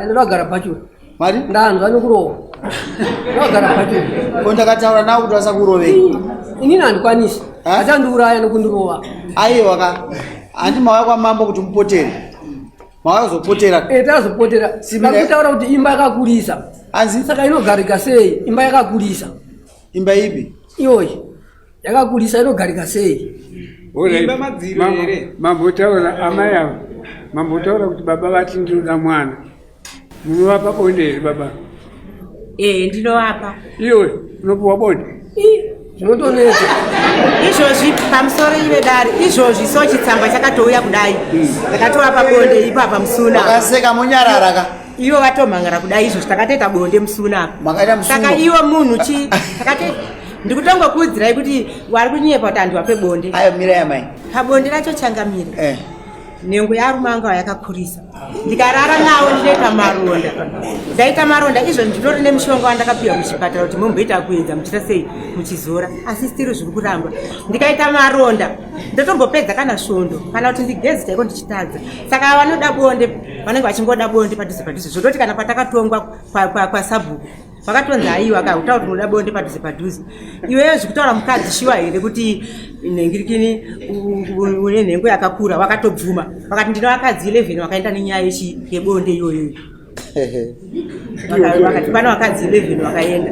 ndakagara bhachuru mari ndanzwa nekurohwa ndakagara bhachuru ko ndakataura nawo kuti vasakurovei inini handikwanisi Ha? achandiuraya nekundirova aiwa ka handi mauya kwamambo kuti mupotere mauya kuzopotera Eh, tazopotera Simile. vakutaura kuti imba yakakurisa anzi saka inogarika sei imba yakakurisa imba ipi iyoyi yakakurisa inogarika sei mambotaura amai avo mambotaura kuti baba vati ndinoda mwana munovapa bonde here baba ee ndinovapa iwe unopiwa bonde zvinotonetsa izvozvi pamusoro ive dare izvozvi so chitsamba chakatouya kudai ndakatovapa hmm. bonde ipapa musuna akaseka monyararaka ivo vatomhangara kudai izvozvo takatoita bonde musuna apa saka ivo munhu chii ndikutongokuudzirai kuti wari kunyepa kuti andiwa pebonde ayo mira yamai pabonde racho changamira eh. nhengo yarume angu ayakakurisa ndikarara nawo ndinoita maronda ndaita maronda izvo nditori nemushonga wandakapiwa muchipatara kuti momboita kuedza muchita sei muchizora asi stiri zviri kuramba ndikaita maronda ndotombopedza kana svondo kana kuti ndigezi chaiko ndichitadza saka vanoda bonde vanenge vachingoda bonde padhuze padhuze zvototi kana patakatongwa kwasabhuku kwa, kwa vakatonzi aiwa ka kutaura kuti unoda bonde padhuze padhuze iweyo zvekutaura mukadzi shiwa here kuti nhengirikini une nhengo yakakura wakatobvuma vakati ndino vakadzi 11 vakaenda nenyaya yebonde iyoyoyo vakati pana vakadzi 11 vakaenda